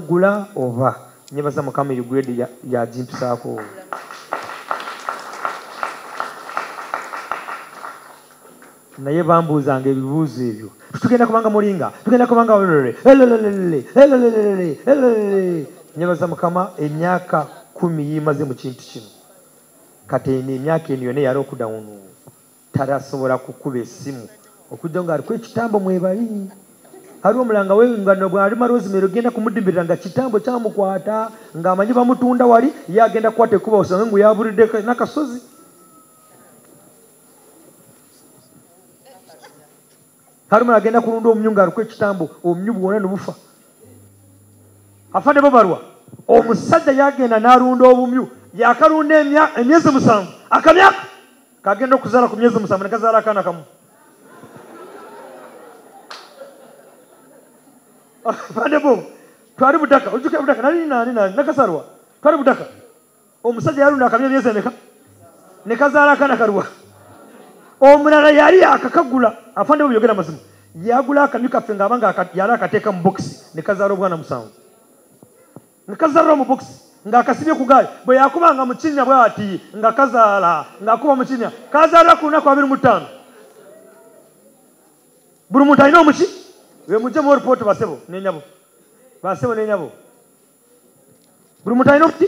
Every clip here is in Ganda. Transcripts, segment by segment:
gula oba nyebaza mukama eyo grade yagimpisaako ya naye bambuuzanga ebibuuzo ebyo tugenda kubanga mulinga tugenda kubanga nyebaza mukama emyaka kumi yimaze mu kintu kino kati eno emyaka eno yona eyali okudawunu tarasobola kukuba esimu okujja nga aliko ekitambo mwebali ali omulanga we nga bwalima rosemary ogenda kumudimbirira nga kitambo kyamukwata ng'amanyi bamutunda wali ye agenda kukwata ekuba osange ngu yaburidde nakasozi kalumu agenda kulunda omumyu nga aliko ekitambo omumyu bwona nobufa afande bobalwa omusajja yagenda nalunda obumyu yakalunda emyezi musanvu akamyaka kagenda okuzala ku myezi musanvu nekazala akaana kamu afande bo twali budaka ojuka budaka nali nani nani nakasalwa twali budaka omusajja yalunda akabya emyezi emeka ne kazaala akana kaluwa omulala yali akakagula afande bweyogera mazima yagula akamyu kaffe ngaaba nga yali akateeka mu bokisi ne kazaala obwana musanvu nga kazaala mu bokisi ng'akasibye ku gaali bwe yakuba nga mukinya bwati nga kazaala ng'akuba mukinya kazaala ku lunaku abiri mu ttaano buli muntu alina omuki bemujjemu oripooti basebo nenyabo basebo nenyabo buli muntu alina okuti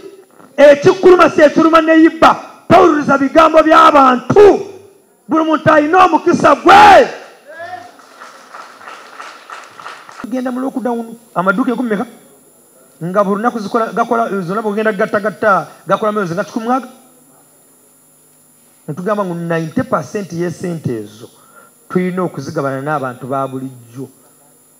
ekikuluma si ekiruma neyibba tawuliriza bigambo by'abantu buli muntu alina omukisa gwe genda mu lockdown amaduuka enkumi meka nga buli lunaku gakola zonna bwegenda gattagatta gakola myozi nga kikumwaga netugamba ngu 90 pasenti yesente ezo tulina okuzigabana n'abantu ba bulijjo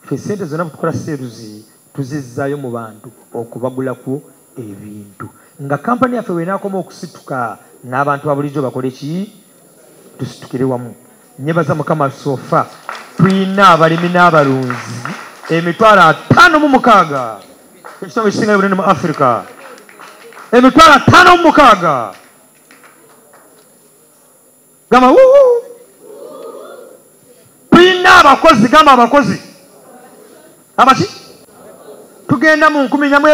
Ffe ssente zonna bwetukola seeruzi tuzizzaayo mu bantu okubagulako ebintu nga kampani yaffe bwenaakoma okusituka n'abantu babulijjo bakole ki tusitukire wamu nyebaza mukama sofa tulina abalimi n'abalunzi emitwalo ataano mu mukaaga ekitongo ekisinga bunene mu afirika emitwalo ataano mu mukaaga gamba wuu tulina abakozi gamba abakozi abaki tugenda mu nkumi nyamwe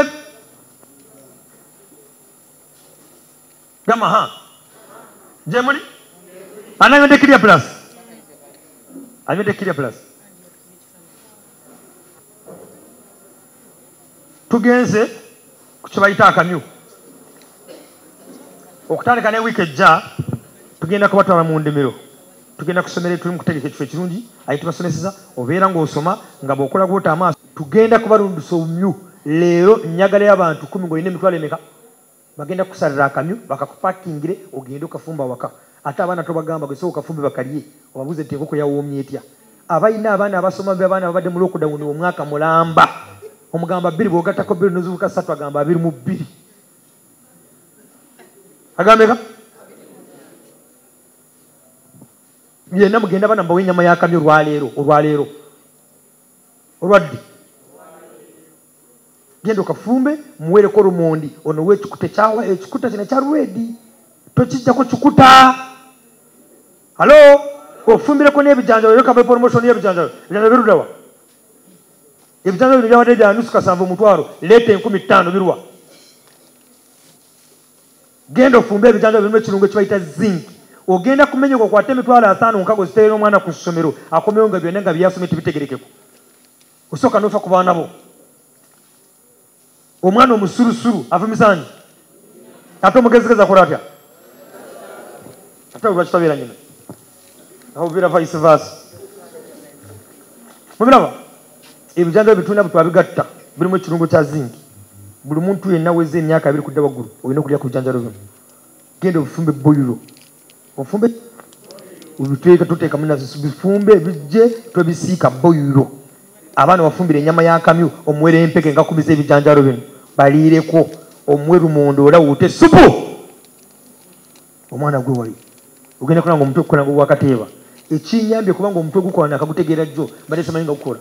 gamba ha gyemuli anayonde kirya plus ayonde kirya plus tugenze ku kyebayita akamyu okutandika ne wiiki ejja tugenda kubatwala mu ndimiro tugenda kusomera tuli mukutegeka ekifo ekirungi aye tubasomeseza obeera ngaosoma nga bwokola gwota amaaso tugenda kubalundusa omumyu leero nyagaleo abantu kumi ngaolina emitwalo emeka bagenda kusalira akamyu bakakupakingire ogende okafumba waka ate abaana tobagamba gwe soka fumbi bakalye obabuze nti enkoko yawoomye etya abalina abaana abasoma abaana babadde mu lockdown omwaka mulamba omugamba bbiri bwogattako bbiri nozibuka satu agamba abiri mu bbiri agambeka byena mugenda bana mbawa enyama yakamyo olwaleero olwaleero olwaddi genda okafumbe muweereko lumondi ono wekikuta ekyawa ekikuta kino ekya redi tokijjako kikuta halo ofumbireko n'ebijanjalo era kava promotion y'ebijanjalo ebijanjalo birudawa ebijanjalo bino byawadde bya nusu kasanvu omutwalo leeta enkumi ttaano birwa genda ofumbe ebijanjalo birimu ekirungo ekibayita zinc ogenda kumenyoka okwate emitwalo ataano nkago ziteera omwana ku ssomero akomewo nga byonna nga byeyasomye tibitegerekeko osooka nofa ku baana bo omwana omusurusuru avumisanyi ate omugezigezi akola atya ate lwakitabeera nyina aobeera vice versa mubiraba ebijanjaba bitulina bwetwabigatta birimu ekirungo kya zingi buli muntu yenna weza emyaka abiri kudda waggulu olina okulya ku bijanjalo bino genda obufumbe boyiro ofumbe obiteeka tuteekamu nazisu bifumbe ebijje twebisiika boyiro abaana bafumbire enyama yakamyu omuwere empeke ngakubiza ebijanjalo bino baliireko omuwe lumonde olawute supu omwana gwe wali ogenda kola nga omutwe okukola nga owakateeba ekinyambye kubanga omutwe gukola nakagutegeera jjo mbadde simanyi nga gukola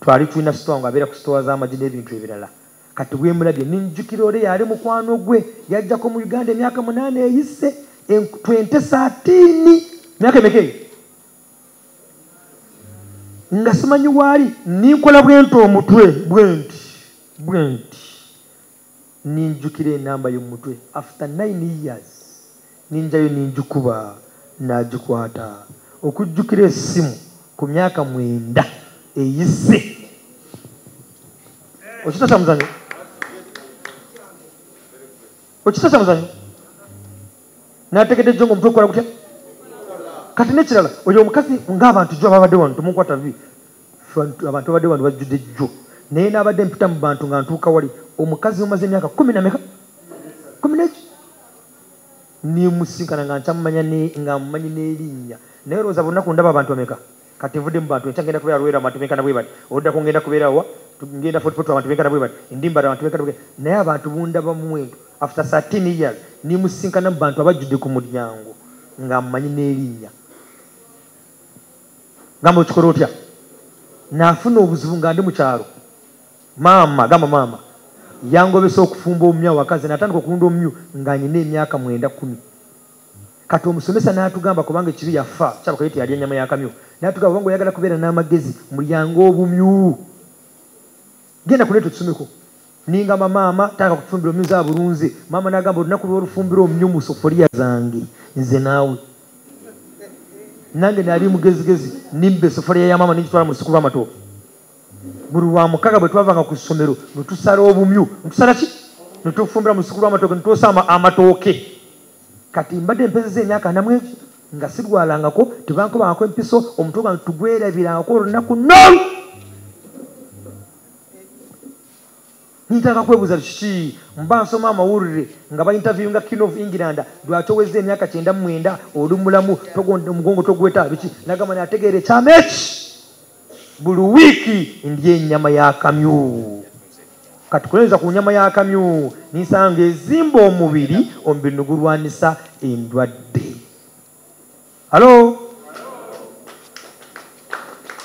twali tulina sitowa nga abeera ku sitowa z'amagi n'ebintu ebirala kati bwemulabye ninjukira ole yali mukwano gwe yajjako mu uganda emyaka munaana eyise twente saatiini myaka emeka eyo nga simanyi waali ninkola bwenti omutwe bwenti bwenti ninjukira enamba yo mumutwe after nine years ninjayo ninjikuba najikwata okujjukira esimu kumyaka mwenda eyise okitasa muzanyo okitasa muzanyo nategedde jonga omutwe okola gutya kati nekirala oyo omukazi ngaabantu jo ababadde wano temunkwata vi abantu babadde bantu bajjudde jjo naye nabadde mpita mu bantu nga ntuuka wali omukazi omaze emyaka kumi nameka kumi neki nemusinkana nga nkyamumanya nga mumanyi n'erinnya naye olowooza bunaku ndaba abantu bameka kati nvudde mu bantu enkyagenda kubeera lwera abantu benkana bwe bati oluddako ngenda kubeera wa ngenda fotifoto abantu benkana bwe bati endimbala abantu benkana bwe naye abantu bundaba muwendo after 13 years nemusinkana mu bantu abajjudde ku mulyango nga mumanyi n'erinnya gamba okikola otya nafuna obuzibu nga ndi mukyalo maama gamba maama yangobesa okufumba omumyu awakazi natandika okulunda omumyu nga nyina emyaka mwenda kumi kati omusomesa natugamba kubanga ekibi yafa kyabakayo teyalya enyama yakamyu natugamba kubanga oyagala kubeera n'amagezi mulyange obumyu genda kuleeta otusomeko ningamba maama taka kutufumbira omyuza abulunze maama nagamba olunaku lwolufumbira omnyu mu sofoliya zange nze naawe nange nali mugezigezi nimba esofoliya ya maama nigitwala mu sikuba amatooke buli lwa mukaga bwe twavanga ku ssomero netusala obumyu netusala ki netufumbira mu sikuba amatooke netwosa amatooke kati mbadde mpezeza emyaka namwegi nga sirwalangako tebankubangako empiso omutwe gwange tugwerabirangako olunaku nol nintaka kwebuuza kiki mba nsoma amawulire nga bainterviewinga king of england lwaki owezza emyaka kyenda mumwenda oli mulamu omugongo togweta biki nagamba nategeera ekyama eki buli wiiki ndya enyama y'akamyu kati kulenza ku nyama y'akamyu ninsanga ezimba omubiri omubiri nigulwanisa endwadde halo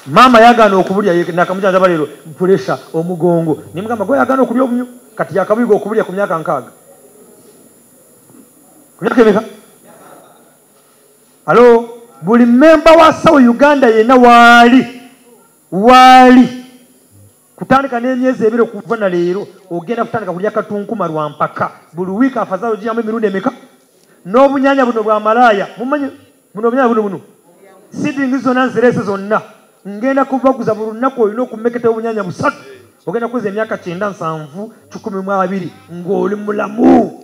maama yagaana okubulya nakamujanjaba leero puresa omugongo naye mugamba gwe yagaana okulya obunyo kati yakabuyiga okubulya ku myaka nkaaga ku myaka emeka alo buli memba wa sawo uganda yenna waali waali kutandika n'emyezi ebiri okuva na leero ogenda kutandika kulya katunkuma lwa mpaka buli wiiki afazaalo giyamu emirundi emeka n'obunyanya buno bwa malaaya mumanyi buno obunyanya buno buno sidingi zonna nzireese zonna ngenda kubaguza buli lunaku olina okumeketa obunyanya busatu ogenda kuweza emyaka kyenda nsanvu kikumi mu abiri ng'oli mulamu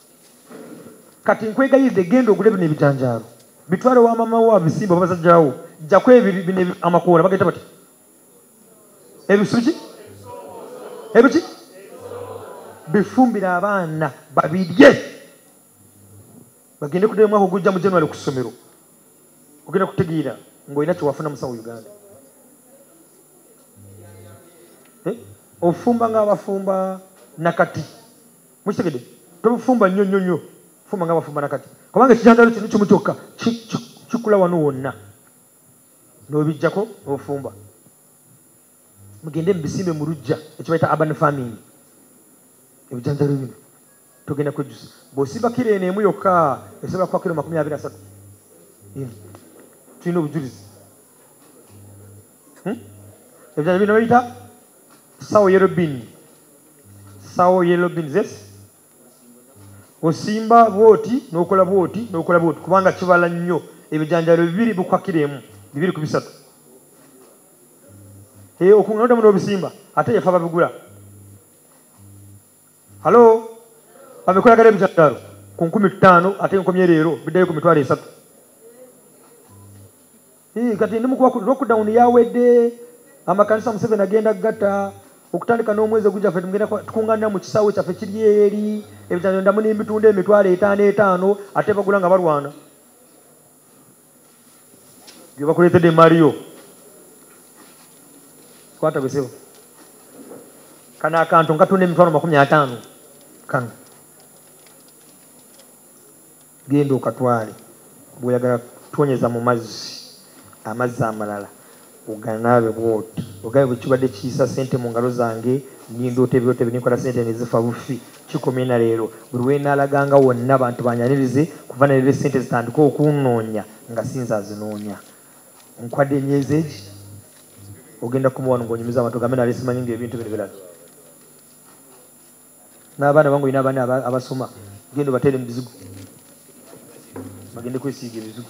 kati nkwegayidde genda ogule bino ebijanjaalo bitwale wa mama wo abisimba babasajjawo jjako ebino amakoola bageta bati ebisuki ebiki bifumbire abaana babirye bagende kudda omwaka ogujja mu january ku ssomero ogenda kutegeera ngaolina kyewafuna musawo uganda eh? ofumba ngaabafumba nakati mukitegede tobufumba nnyo nnyo nnyo fumba nga bafumba nakati kubanga ekijandaalo kino kimu kyokka kikula wano wonna nobijjako nofumba mugende mubisimbe mu lujja ekibaita urban farming ebijanjalo bino togenda kwejjusa bwosiba kiro eno emu yokka esobola kuba kiro makumi abiri asatu tulina obujulizi hmm? ebirala bino bayita sawo yellow bean sawo yellow bean zes osimba bwoti nokola bwoti nokola bwoti kubanga kibala nnyo ebijanjalo bibiri bukwakira emu bibiri ku bisatu eh, okunganoddamu n'obisimba ate yafa babigula halo babikolagala ebijanjalo ku nkumi ttaano ate nkomye leero biddayo ku mitwalo esatu Hii, kati ndi mukuba lockdown yawedde amakanisa museveni agenda gatta okutandika n'omwezi ogujja fe tugenda tukunganira mu kisaawe kyaffe kiri eri ebitano ndamu n'emitunda emitwalo etaano etaano ate bagula nga balwana gye bakuleetedde emaali yo kwata gwesebo kano akantu nkatunda emitwalo makumi ataano kano Genda okatwale bwoyagala tonyeza mu mazzi amazzi amalala oganaabe bwoti ogabe bwekibadde kiyisa sente mu ngalo zange nindoota ebirooto ebyo ninkola sente nezifa bufi kikomye na leero buli wenaalaganga wonna bantu banyanirize kuva naleero sente zitandike okunnoonya nga sinze azinoonya nkwadde emyezi egi ogenda kumuwano ngaonyumiza abantu ogambe nalesimanyi nga ebintu bino birabye n'abaana bange olina abaana abasoma genda obateere mu bizigo bagende kwesiiga ebizigo